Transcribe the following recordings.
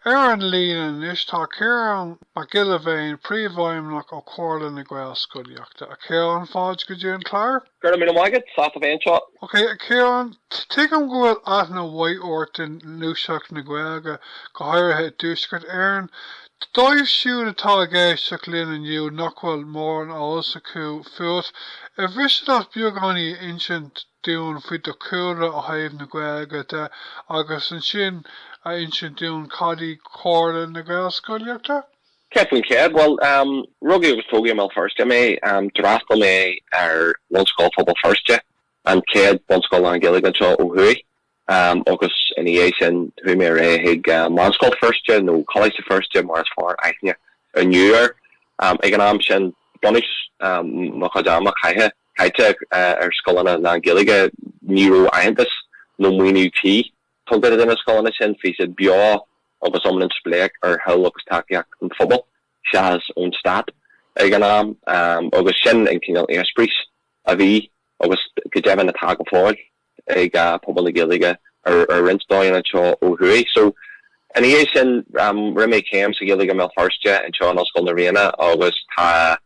Ar an líne anois tá Ciarán Mac Giolla Bhéin, Príomhfheidhmeannach ó Chomhairle na Gaelscolaíochta. A Chiaráin, fáilte go dtí an clár. Go raibh míle maith agat, sásta a bheith anseo. Ok, a Chiaráin, tuigim go bhfuil aithne mhaith ort i ngluaiseacht na Gaeilge, go háirithe i dTuaisceart Éireann. Dóibh siúd atá ag éisteacht linn inniu nach bhfuil mórán eolas acu fút, ar mhiste leat beagáinín a insint dúinn faoi do chúlra ó thaobh na Gaeilge de agus ansin a insint dúinn cad í comhairle na Gaelscolaíochta? Céad faoin chéad, bhuel, rugadh agus tógadh i mBéal Feirste mé. D'fhreastail mé ar Bhunscoil Phobal Feirste, an chéad bhunscoil lán-Ghaeilge anseo ó thuaidh. Um agus ina dhiaidh sin chuaigh mé ar aghaidh chuig Meánscoil Feirste nó Coláiste Feirste mar is fearr aithne inniu air. Ag an am sin bunús mo chuid ama caite caite ar scoileanna lán Gaeilge ní raibh aitheantas nó maoiniú tí tugtha do na scoileanna sin. Bhí siad beo agus iomlán spléach ar thoil agus tacaíocht an phobail seachas ón stát ag an am agus sin an cineál eispéiris a bhí agus go deimhin atá go fóill. ag pobal na Gaeilge ar roinnt dóigheanna anseo ó thuaidh. So, ina dhiaidh sin, rinne mé céim sa Ghaeilge i mBéal Feirste, anseo in Ollscoil na Ríona agus tá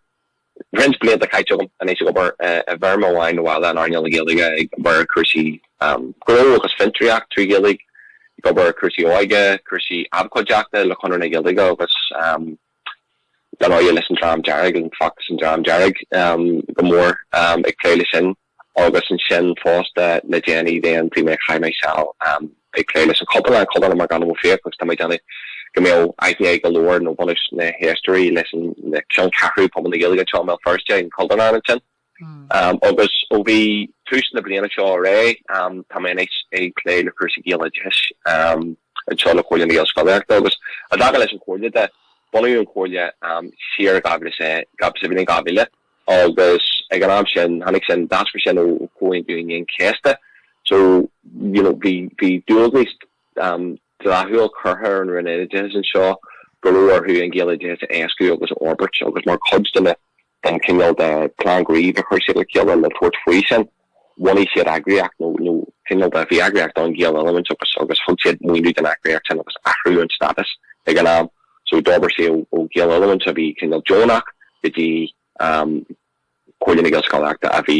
roinnt blianta caite agam anois ag obair i bhfoirm amháin nó eile in earnáil na Gaeilge, ag obair ar chúrsaí gnó agus fiontraíocht trí Ghaeilge, ag obair ar chúrsaí óige, cúrsaí abhcóideachta le Conradh na Gaeilge agus dar ndóigh leis an Dream Dearg, an feachtas An Dream Dearg go mór ag plé leis sin. Agus ansin fosta le déanaí dhéanfaidh mé chaith mé seal ag plé leis an Chultúrlann, an Chultúrlann McAdam Ó Fiaich, agus tá mé ag déanamh go mbeadh aithne ag go leor nó bunús na héisteoirí leis an cheanncheathrú pobal na Gaeilge anseo i mBéal Feirste an Chultúrlann ansin. Agus ó bhí tús na bliana seo ar aghaidh tá mé anois ag plé le cúrsaí Gaeloideachais anseo le Comhairle na Gaelscolaíochta agus i dtaca leis an Chomhairle de, bunaíodh an Chomhairle siar i dhá mhíle, sa bhliain dhá mhíle, Agus ag an am sin, tháinig sin, d'eascair sin ó Chomhaontú Aoine an Chéasta. So, you know, bhí, bhí dualgas dleathúil curtha ar an Roinn Oideachais anseo go raibh orthu an Gaeloideachas a éascú agus a fhorbairt, agus mar chuid den, den chineál de phlean gnímh a chuir siad le chéile le tabhairt faoi sin. bhunaigh siad eagraíocht, nó cineál de bhí eagraíocht ann, Gaeloiliúint agus agus thug siad maoiniú don eagraíocht sin agus athraíodh an stádas ag an am so d'fhorbair sé ó Gaeloiliúint a bhí cineál deonach go dtí Comhairle na Gaelscolaíochta a bhí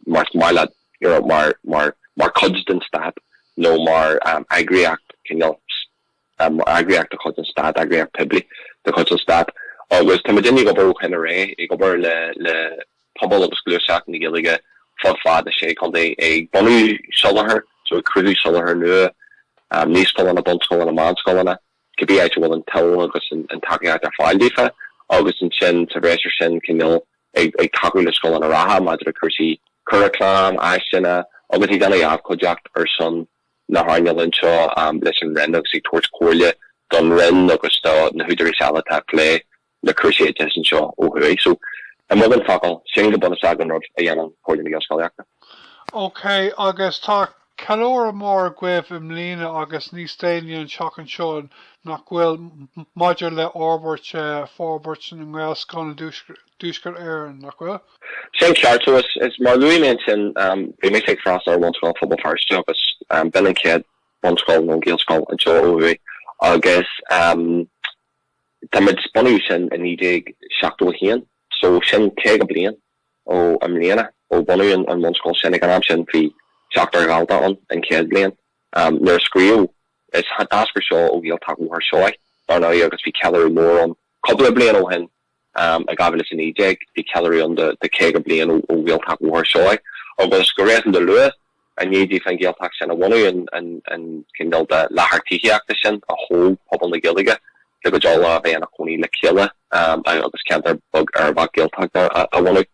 mar mar leat you know mar mar mar cuid den stát nó mar eagraíocht cineál eagraíocht de chuid an stáit, eagraíocht phoiblí de chuid an stáit, agus tá muid uilig ag obair ó shin i leith, ag obair le pobal agus gluaiseacht na Gaeilge fud fad na Sé Chontae, ag bunú soláthar, so ag cruthú soláthar nua, naíscoileanna, bunscoileanna, meánscoileanna, cibé áit a bhfuil an toil agus an tacaíocht ar fáil daofa, agus ansin sa bhreis ar sin, cineál, ag tacú le scoileanna reatha maidir le cúrsaí curaclaim, áiseanna, agus ag déanamh abhcóideacht ar son na hearnála anseo leis an Roinn agus ag tabhairt comhairle don Roinn agus do na húdaráis eile atá ag plé le cúrsaí oideachais anseo ó thuaidh. So, i mbeagán focal, sin go bunúsach an rud a dhéanann Comhairle na Gaelscolaíochta. OK, agus tá ceiliúradh mór agaibh i mbliana agus níos déanaí an tseachtain seo, nach bhfuil, maidir le forbairt, forbairt na nGaelscoileanna i dTuaisceart Éireann, nach bhfuil? Sin ceart, so is, is mar luaigh mé ansin, bhí mise ag freastal ar Bhunscoil Phobal Feirste agus b'in an chéad bhunscoil nó Gaelscoil anseo ó thuaidh agus tá muid, bunaíodh sin i 1971 so sin caoga bliain ó i mbliana ó bunaíodh an bhunscoil sin, ag an am sin bhí seachtar dalta ann an chéad bhliain nuair a cruthaíodh, is, d'eascair seo ó Ghaeltacht Bhóthar Seoighe dar ndóigh agus bhí ceiliúradh mór ann cúpla bliain ó shin. In 2019, bhí ceiliúradh ann do 50 bliain ó Ghaeltacht Bhóthar Seoighe agus, go réasúnta luath i ndiaidh daofa an Ghaeltacht sin a bhunú, an cineál de láthair tithíochta sin a thóg pobal na Gaeilge le go dtiocfadh leo a bheith ina gcónaí le chéile ann agus ceantar beag uirbeach Gaeltachta a bhunú.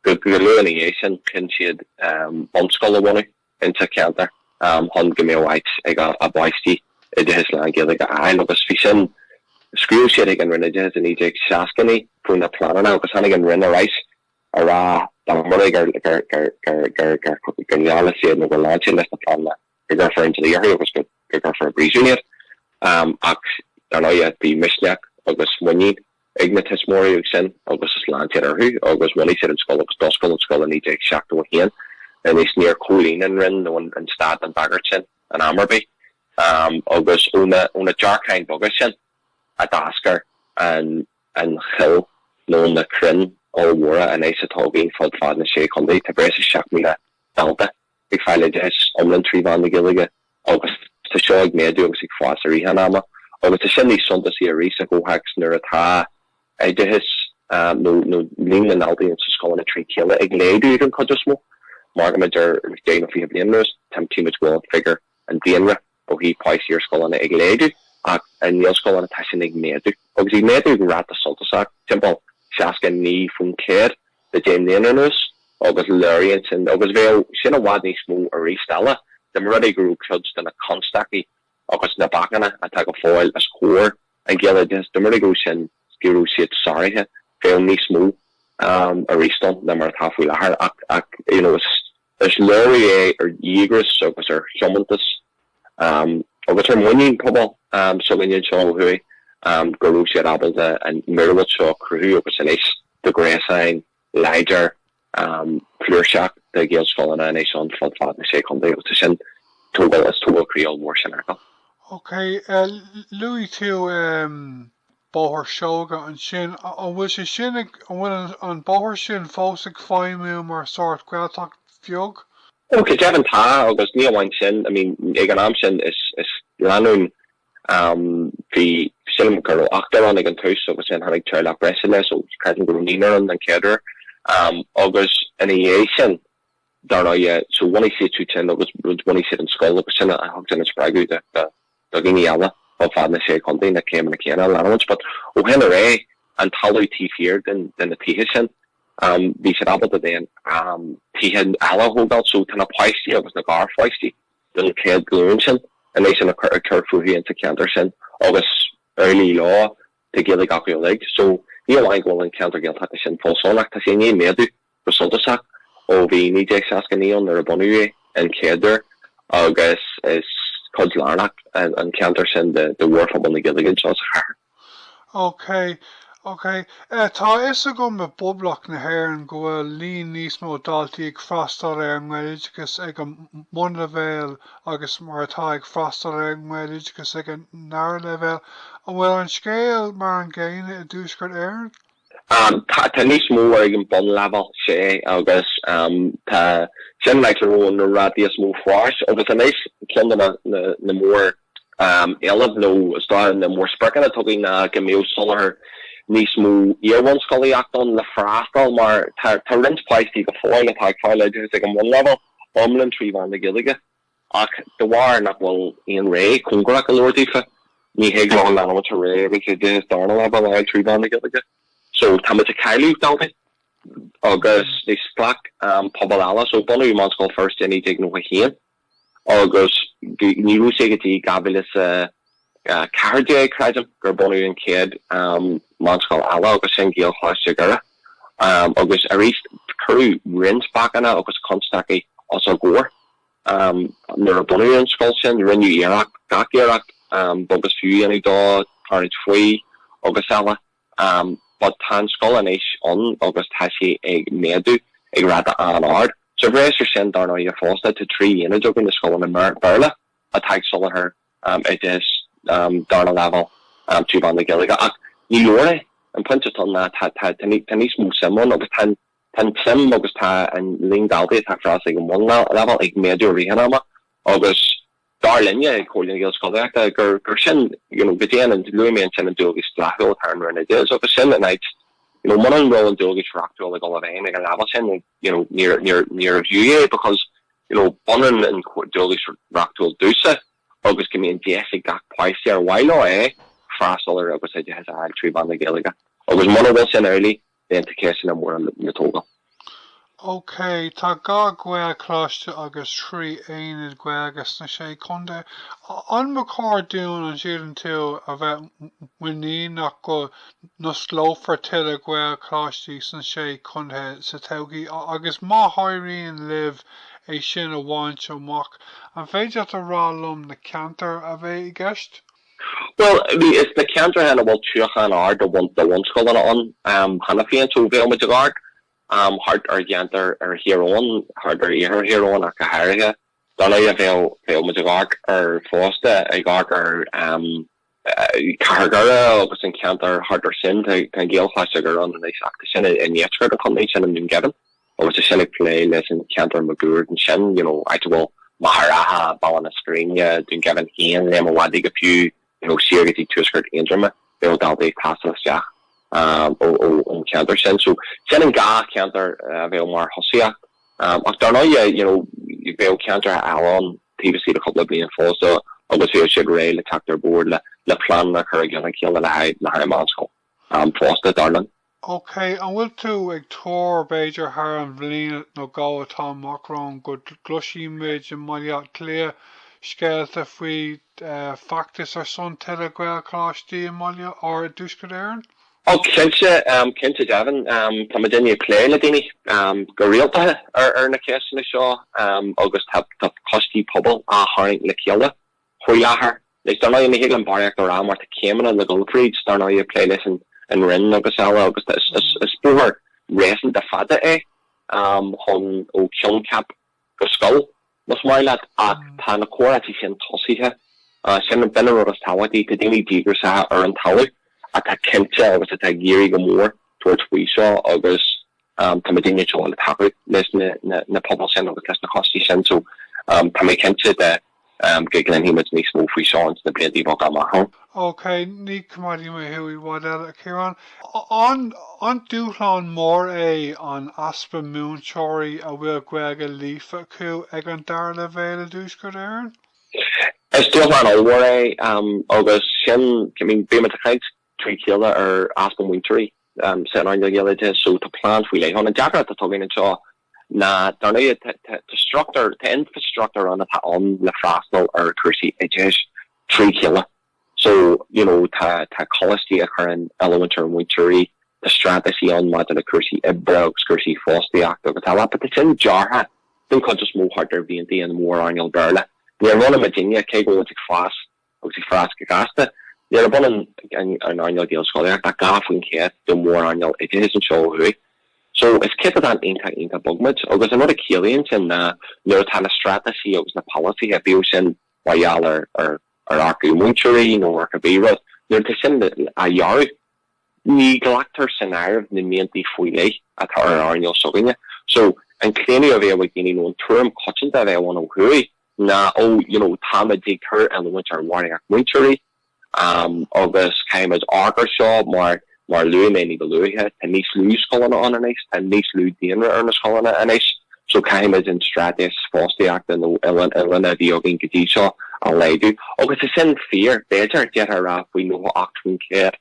Go luath ina dhiaidh sin, chinn siad bunscoil a bhunú. insa cheantar chun go mbeadh áit ag a bpáistí oideachas lán-Ghaeilge a fháil agus bhí sin Scríobh siad ag an Roinn Oideachais i 1969 faoi na pleananna agus tháinig an Roinn ar ais a rá dá mba rud é gur ngeall siad nó gur lean siad leis na pleananna go gcuirfí an dlí orthu agus go gcuirfí i bpríosún iad ach dar ndóigh bhí misneach agus muinín ag na tuismitheoirí ansin agus lean siad orthu agus bhunaigh siad an scoil agus d'oscail an scoil i 1971. Anois níor chomhlíon an Roinn nó an Stát an bhagairt sin in am ar bith agus ó na dearcáin bheaga sin a d'eascair an choill nó na crainn ollmhóra anois atá againn fud fad na Sé Chontae, tá breis is 7,000 dalta. ag fáil oideachais iomlán trí mheán na Gaeilge agus tá seo ag méadú agus ag fás i rith an ama agus tá sin níos suntasaí arís sa chomhthéacs nuair atá oideachas nó líon na ndaltaí insna scoileanna trí chéile ag laghdú den chuid is mó. Mar go dtí, idir deich nó fiche bliain anuas, tchímid go bhfuil an figiúr, an daonra, Ó thaobh páistí ar scoileanna ag laghdú ach i nGaelscoileanna tá sin ag méadú, agus ag méadú ag ráta suntasach, timpeall 69% le deich mbliana anuas, agus léiríonn sin, agus bheadh sin i bhfad níos mó arís eile dá mba rud é go raibh cuid de na constaicí agus na bacanna atá go fóill os comhair an Ghaeloideachais, dá mba rud é go raibh sin, go raibh siad sáraithe, bheadh níos mó arís ann ná mar atá faoi láthair ach, you know, is. Is léiriú é ar dhíograis agus ar thiomantas agus ar mhuinín pobal s'againne anseo ó thuaidh go raibh siad ábalta an mhíorúilt seo a chruthú agus anois tá gréasán láidir flúirseach de Ghaelscoileanna anois ann fud fad na Sé Chontae agus sin tógáil, is tógáil croí ollmhór sin acu. OK, luaigh tú Bóthar Seoighe ansin. An bhfuil sé sin ag, an bhfuil an bóthar sin fós ag feidhmiú mar sórt Gaeltacht bheag? Ó, go deimhin tá agus ní amháin sin, I mean, ag an am sin is, is lánúin, am, bhí, sílim go raibh ochtar ann ag an tús agus then tháinig teaghlach breise eile so creidim go raibh naonúr ann an chéad uair, am, agus ina dhiaidh sin. dar ndóigh. So bhunaigh siad siúd sin agus bhunaigh siad an scoil agus sin a thug an spreagadh do, do, do dhaoine eile fud fad na Sé Chontae na céimeanna céanna a leanúint. But ó shin ar aghaidh, an talamh taobh thiar den, de na tithe sin, um, bhí siad ábalta den, um, tithe eile a thógáil. So tá na páistí agus na garpháistí den chéad ghlúin sin anois ina cur, ag cur fúthu insa cheantar sin agus ar fhilí leo tá Gaeilge acu uilig. So ní amháin go bhfuil an ceantar Gaeltachta sin fós ann ach tá sé i ndiaidh méadú. go suntasach ó bhí 1969 ann, nuair a bunaíodh é an chéad uair, agus is cuid lárnach an ceantar sin de mhórphobal na Gaeilge anseo sa chathair. OK, OK. Tá a fhios agam i bPoblacht na hÉireann go bhfuil líon níos mó daltaí ag freastal ar an nGaeloideachas ag an mbunleibhéal agus mar atá ag freastal ar an nGaeloideachas ag an ndara leibhéal. An bhfuil an scéal mar an gcéanna i dTuaisceart Éireann? Tá níos mó ar, ag an bunleibhéal, sea, agus tá sin an áit a raibh na rátaí is mó fáis. Agus anois, ceann de na móréilimh nó is dóigh na mórspriocanna atá againn ná go mbeadh soláthar níos mó iar-bhunscolaíocht ann le freastal mar tá roinnt páistí go fóill atá ag fáil oideachas ag an mbunleibhéal iomlán trí mheán na Gaeilge. Ach de bharr nach bhfuil aon rogha cóngarach go leor daofa, ní thig leo a leanúint ar aghaidh agus oideachas darna leibhéal a fháil trí mheán na Gaeilge. So, táimid ag cailleadh daltaí agus níor ghlac an pobal eile. So, bunaíodh Meánscoil Feirste i 1991 agus ní raibh sé go dtí 2000 is a. 14, creidim, gur bunaíodh an chéad mheánscoil eile agus sin Gaelcholáiste Dhoire agus arís cuireadh roinnt bacanna agus constaicí os a gcomhair nuair a bunaíodh an scoil sin, rinneadh iarracht, gach iarracht beag is fiú a dhéanamh dó, tarraingt faoi agus eile but tá an scoil anois ann agus tá sí ag méadú ag ráta an-ard. Sa bhreis ar sin, dar ndóighe fosta, tá trí aonad againn i scoileanna Béarla atá ag soláthar oideachas darna leibhéal trí mheán na Gaeilge. Ach ní leor é. An pointe atá ná tá tá níos mó suim ann agus tá tá an tsuim agus tá an líon daltaí atá ag fás ag an bhunleibhéal ag méadú i rith an ama agus dar linne ag Comhairle na Gaelscolaíochta gur gur sin you know go dtí an luaigh mé ansin an dualgas dleathúil atá ar an Roinn Oideachais agus sin an áit you know muna raibh an dualgas reachtúil ag dul i bhfeidhm ag an leibhéal sin you know, níor, níor, níorbh fhiú é because, you know, b'ionann an dualgas reachtúil domhsa agus go mbíonn deis ag gach páiste ar mhaith leo é freastal air agus oideachas a fháil trí mheán na Gaeilge. Agus muna bhfuil sin amhlaidh, then tá ceisteanna móra le tógáil. OK, tá dhá Ghaelcholáiste agus trí aonad Gaeilge sna Sé Chontae. An mba chóir dúinn an síleann tú a bheith muiníneach go n-osclófar tuilleadh Gaelcholáistí sna Sé Chontae sa todhchaí agus má éiríonn libh é sin a bhaint amach, an féidir leat a rá liom na ceantair a bheidh i gceist? Bhuel, is na ceantracha ina bhfuil tiúchan ard de bhunscoileanna ann cheana féin, so bheadh muid ag amharc thart ar cheantair ar Thír Eoghain, thart ar iarthar Thír Eoghain ach go háirithe. Dar ndóigh bheadh muid ag amharc ar fosta, ag amharc ar, Cathair Dhoire agus an ceantar thart air sin. Tá an Gaelcholáiste Dhoire ann anois ach tá sin i ndeisceart an chontae, sin i nDún Geimhin agus tá sin ag plé leis an cheantar maguaird ansin, you know, áit a bhfuil Machaire Rátha, Baile na Scríne, Dún Geimhin féin, Léim a' Mhadaidh go fiú, you know, soir go dtí tuaisceart Aontroma, bheadh daltaí ag taisteal isteach ón cheantar sin. So sin an dhá cheantar a bheadh mar thosaíocht ach dar ndóigh, you know, bheadh ceantracha eile ann. taobh istigh de chúpla bliain fosta agus bheadh siad réidh le teacht ar bord le pleananna a chur i gcionn a chéile le haghaidh meánscoil fosta, dar linn. OK, an bhfuil tú ag tuar, b'fhéidir thar an bhliain nó dhó atá amach romhainn, go gcloisfimid i mBaile Átha Cliath scéalta faoi feachtas ar son tuilleadh Gaelcholáistí i mBaile, or i dTuaisceart Éireann? Ó, cinnte, cinnte deimhin. Tá muidinne ag plé le daoine go rialta ar na ceisteanna seo agus tá coistí pobail á tharraingt le chéile faoi láthair. Anois, dar ndóigh, ní thig linn barraíocht a rá mar tá céimeanna le dhul thríd, dar ndóigh, ag plé leis an Roinn agus eile agus is bóthar réasúnta fada é chun ó choincheap. go scoil, más maith leat, ach tá na comhráití sin tosaithe. Sin an bunrud is tábhachtaí. Tá daoine díograiseacha ar an talamh atá cinnte agus atá ag iarraidh go mór tabhairt faoi seo agus tá muidinne toilteanach le tacú leis na pobail sin agus leis na coistí sin so tá mé cinnte de Go gcluinfidh muid níos mó faoi seo sna blianta beaga amach romhainn. OK, ní choimeádfaidh mé thú i bhfad eile, a Chiaráin. An dúshlán mór é an easpa múinteoirí a bhfuil Gaeilge líofa acu ag an dara leibhéal i dTuaisceart Éireann? Is dúshlán ollmhór é agus sin, I mean, bímid ag caint trí chéile ar easpa múinteoirí san earnáil Ghaeloideachais so tá plean faoi leith ann. An deacracht atá againn anseo ná, dar ndóigh, tá struchtúr, tá infreastruchtúr ann atá ann le freastal ar chúrsaí oideachais trí chéile so, you know, tá coláistí a chuireann oiliúint ar mhúinteoirí, tá straitéisí ann maidir le cúrsaí oibre agus cúrsaí fostaíochta agus eile but tá sin deartha den chuid is mó thart ar mhianta na mórearnála Béarla. Ní ionann muidinne, cé go bhfuilimid ag fás, agus ag fás go gasta. Níorbh ionann an earnáil Ghaelscolaíochta ach dhá faoin chéad de mhórearnáil oideachais anseo ó thuaidh. So, is céatadán iontach iontach beag muid. Agus an rud a chiallaíonn sin ná nuair atá na straitéisí agus na polasaithe, bíodh sin mar gheall ar ar earcú múinteoirí nó ar cibé rud, nuair atá sin á dhearadh, ní ghlactar san áireamh na mianta faoi leith atá ar an earnáil s'againne. So, an claonadh a bheadh ag daoine nó an tuairim coitianta a bheadh ann ó thuaidh, ná ó you know táimid ag cur oiliúint ar bharraíocht múinteoirí agus caithfimid amharc air seo mar, mar a luaigh mé níba luaithe, tá níos lú scoileanna ann anois, tá níos lú daonra ar na scoileanna anois so caithfimid an straitéis fostaíochta nó oiliúint oiliúna a bhí againn go dtí seo a laghdú. Agus tá sin fíor, b'fhéidir, d'fhéadfá a rá faoi 98%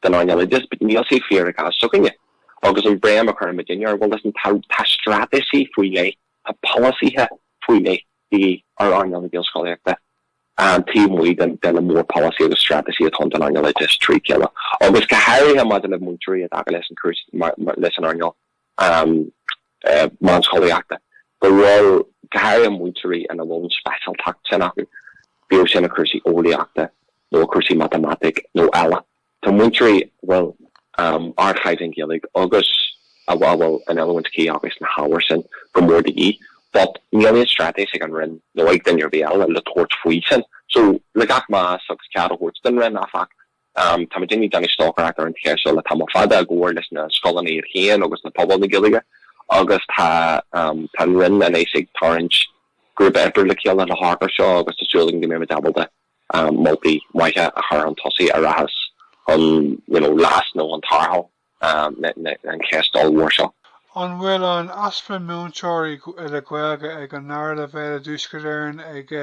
den earnáil oideachais but níl sé fíor i gcás s'againne. Agus an bhéim a chuireann muidinne air bhuel listen tá, tá straitéisí faoi leith, Tá polasaithe faoi leith de dhíth ar earnáil na Gaelscolaíochta taobh amuigh de na mórpholasaithe agus straitéisí atá ann don earnáil oideachais trí chéile agus go háirithe maidir le múinteoirí i dtaca leis an chúrsa leis an earnáil meánscolaíochta go bhfuil go háirithe múinteoirí ina bhfuil an speisialtacht sin acu, bíodh sin i cúrsaí eolaíochta nó i cúrsaí matamaitic nó eile. Tá múinteoirí a bhfuil ardchaighdeán Gaeilge agus a bhfuil an oiliúint chuí acu sna hábhair sin go mór de dhíth, but níl aon straitéis ag an Roinn nó ag duine ar bith eile le tabhairt faoi sin. So, le gach meas agus a ceart a thabhairt don Roinn, áfach, tá muidinne ag déanamh stocaireacht ar an cheist seo le tamall fada i gcomhar leis na scoileanna iad féin agus le pobal na Gaeilge agus tá an Roinn anois ag tarraingt grúpa oibre le chéile le hamharc air seo agus tá súil againn go mbeimid ábalta moltaí maithe a chur chun tosaigh a rachas chun leas nó chun tarrtháil na ceiste ollmhór seo. An bhfuil an easpa múinteoirí le Gaeilge ag an ndara leibhéal i dTuaisceart Éireann ag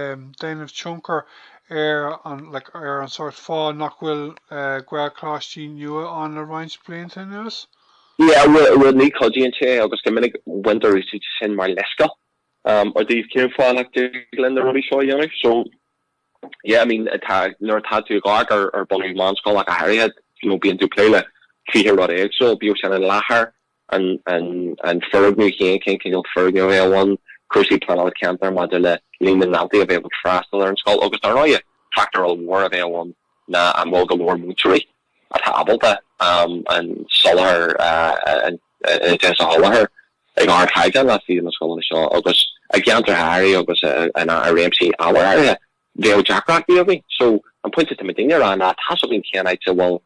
déanamh tionchar ar an like ar an sórt fáth nach bhfuil Gaelcholáistí nua ann le roinnt blianta anuas? Yeah, bhuel bhuel ní chuidíonn sé agus go minic baintear úsáid as sin mar leithscéal i dtaobh cén fáth nach dtig linn na rudaí seo a dhéanamh so, yeah I mean tá nuair atá tú ag amharc ar bunú meánscoil ach go háirithe you know bíonn tú ag plé le fiche rud éagsúil bíodh sin an láthair an an an foirgneamh féin cén cineál foirgneamh a bheadh ann cúrsaí pleanála ceantar maidir le líon na ndaltaí a bheadh ag freastal ar an scoil agus dar ndóigh factor ollmhór a bheadh ann ná an bhfuil go leor múinteoirí atá ábalta an soláthar oideachais a sholáthar ag ardchaighdeán le sna scoileanna seo agus i gceantracha áirithe agus i réimsí ábhair áirithe bheadh deacrachtaí againn. So an pointe atá muid a dhéanamh ná tá's againn cén áit a bhfuil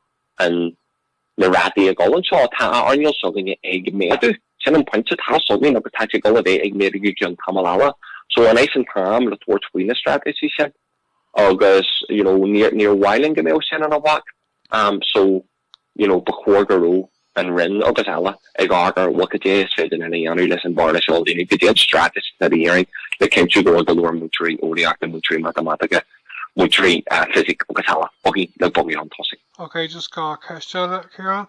na rátaí ag dul anseo, tá an earnáil s'againne ag méadú, sin an pointe, tá's againn agus tá sé ag dul a bheith ag méadú go ceann tamaill eile. So anois an t-am le tabhairt faoi na straitéisí sin? Agus you know níor, níor mhaith linn go mbeadh sin ina bhac um so you know ba chóir go raibh an Roinn agus eile ag amharc ar ok goidé is féidir linn a dhéanamh leis an bhearna seo a líonadh, goidé an straitéis atá de dhíth orainn le cinntiú go bhfuil go leor múinteoirí eolaíochta, múinteoirí matamaitice, múinteoirí eh fisice agus eile againn le bogadh chun tosaigh. Ok just dhá cheist eile Ciarán.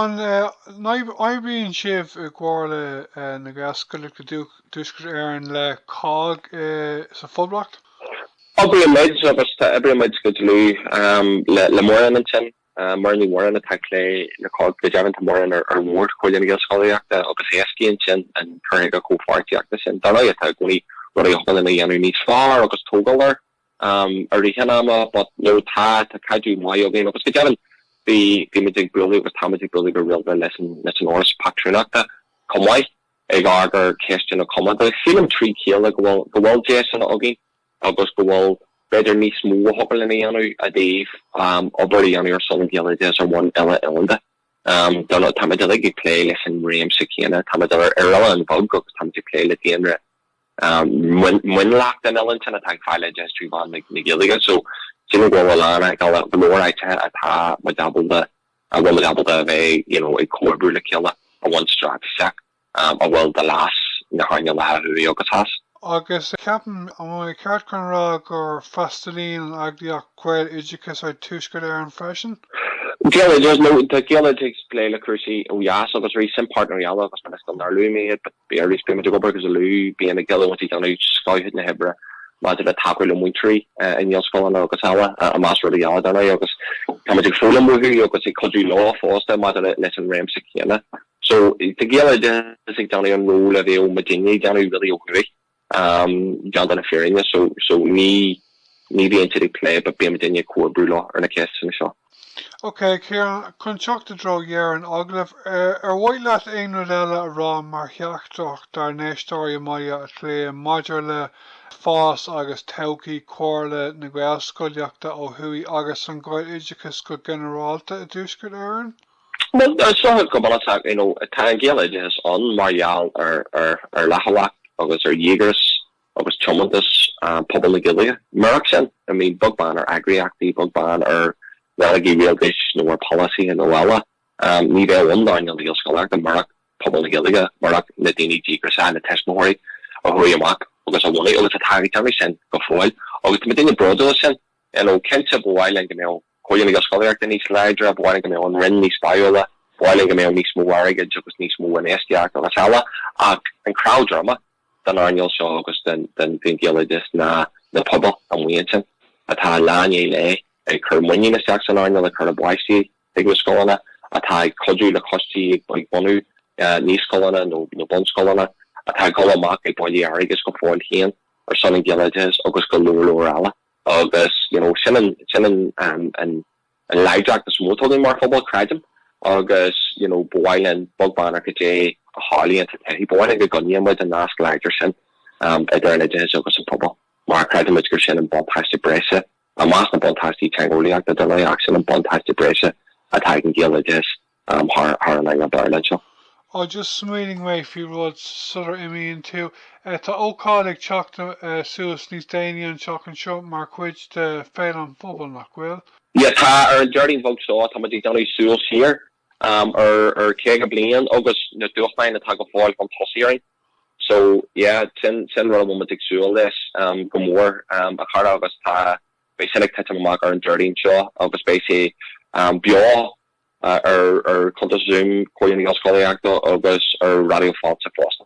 An eh oibríonn sibh i gcomhar le eh na Gaelscoileanna i dTuaisceart Éireann le cogg eh sa Phoblacht? Oibrímid, agus tá, oibrímid go dlúth le Muireann ansin, Muireann Ní Mhóráin atá ag plé le cogg, go deimhin tá Muireann ar bhord Chomhairle na Gaelscolaíochta agus éascaíonn sin an cur chuige comhpháirtíochta sin. Dar ndóigh tá i gcónaí rudaí a thig linn a dhéanamh níos fearr agus tógáil air i rith an ama but no tá, tá caidreamh maith againn agus go deimhin bhí, bhímid ag bualadh agus táimid ag bualadh go rialta leis an, leis an Fhoras Pátrúnachta chomh maith. ag amharc ar ceisteanna comónta. Sílim trí chéile go bhfuil, go bhfuil deiseanna againn agus go bhfuil, b'fhéidir, níos mó a thig linn a dhéanamh i dtaobh obair a dhéanamh ar son an Ghaeloideachais ar bhonn uile-oileánda. Tá, táimid uilig ag plé leis an réimse céanna, táimid ar oileán bheag agus táimid ag plé le daonra mionlach den oileán sin atá ag fáil oideachas trí mheán na Gaeilge. So, sílim go bhfuil a lán, go leor áiteacha atá muid ábalta, a bhfuil muid ábalta a bheith, you know, ag comhoibriú le chéile a bhaint spriocanna amach a bhfuil do leas na hearnála thuaidh agus theas. Agus ceapaim an mbeinn ceart chun rá gur freastalaíonn an eagraíocht Gaeloideachas ar Tuaisceart Éireann freisin? Gaeloideachas, no tá Gaeloideachas ag plé le cúrsaí ó dheas agus arís sin páirtnéirí eile agus mar is don nDarlúim iad, but. Bhí arís bímid ag obair go dlúth bíonn Gaeloideachas ag déanamh scoth chuid na hoibre maidir le tacú le múinteoirí i nGaelscoileanna agus eile, i measc rudaí eile, dar ndóigh, agus táimid ag foghlaim uathu agus ag cuidiú leo fosta maidir leis an réimse céanna. So, tá Gaeloideachas ag déanamh an ról a bheadh muidinne ag déanamh really ó thuaidh. Déanta na fírinne so, ní bhíonn siad ag plé, but bíonn muidinne ag comhoibriú leo ar na ceisteanna seo. Ok, Ciarán, chun teacht i dtreo dheireadh an agallaimh, ar mhaith leat aon rud eile a rá mar theachtaireacht dár n-éisteoirí i mBaile Átha Cliath maidir le fás agus todhchaí Chomhairle na Gaelscolaíochta ó thuaidh agus an Ghaeloideachais go ginearálta i dTuaisceart Éireann? Bhuel, is dócha go bunúsach, you know, tá an Gaeloideachas ann mar gheall ar, ar, ar fhlaithiúlacht agus ar dhíograis agus tiomantas pobal na Gaeilge. Murach sin, I mean, beag beann ar eagraíochtaí, beag beann ar rannógaí rialtais nó ar pholasaithe nó eile, ní bheadh ann don Ghaelscolaíocht murach pobal na Gaeilge, murach na daoine díograiseacha, na tuismitheoirí a chuaigh amach agus a bhunaigh agus atá ag déanamh sin go fóill. Agus tá muidinne bródúil as sin. You know, cinnte ba mhaith linn go mbeadh. Comhairle na Gaelscolaíochta níos láidre, ba mhaith linn go mbeadh an Roinn níos báúla, ba mhaith linn go mbeadh níos mó airgid agus níos mó infheistíocht agus eile ach an cnámh droma den earnáil seo agus den Ghaeloideachas ná na pobail amuigh ansin atá lá i ndiaidh lae ag cur muinín isteach san earnáil, ag cur a bpáistí chuig na scoileanna, atá ag cuidiú le coistí ag bunú naíscoileanna nó bunscoileanna, atá ag dul amach ag bailiú airgid go fóill féin ar son an Ghaeloideachais agus go leor leor eile. Agus you know sin an sin an an an láidreacht is mó atá againn mar phobal, creidim, agus you know ba mhaith linn beag beann ar cad é a tharlaíonn sa todhchaí, ba mhaith linn go gcoinníonn muid an nasc láidir sin idir an oideachas agus an pobal mar creidimid gur sin an buntáiste breise, i measc na buntáistí teangeolaíochta dar ndóigh, ach sin an buntáiste breise atá ag an Ghaeloideachas. thar an earnáil Bhéarla anseo. oh just smaoinigh mé faoi rud sular imíonn tú. tá ócáid ag teacht suas níos déanaí an tseachtain seo mar chuid de Féile an Phobail, nach bhfuil? yeah tá, ar an Déardaoin bheag seo táimid ag déanamh súil siar ar chaoga bliain agus na dúshláin atá go fóill chun tosaigh orainn so yeah sin sin rud a bhfuil muid ag súil leis go mór a chara agus tá beidh sin ag titim amach ar an Déardaoin seo agus beidh sé beo ar ar chuntais Zoom Chomhairle na Gaelscolaíochta agus ar Raidió Fáilte fosta.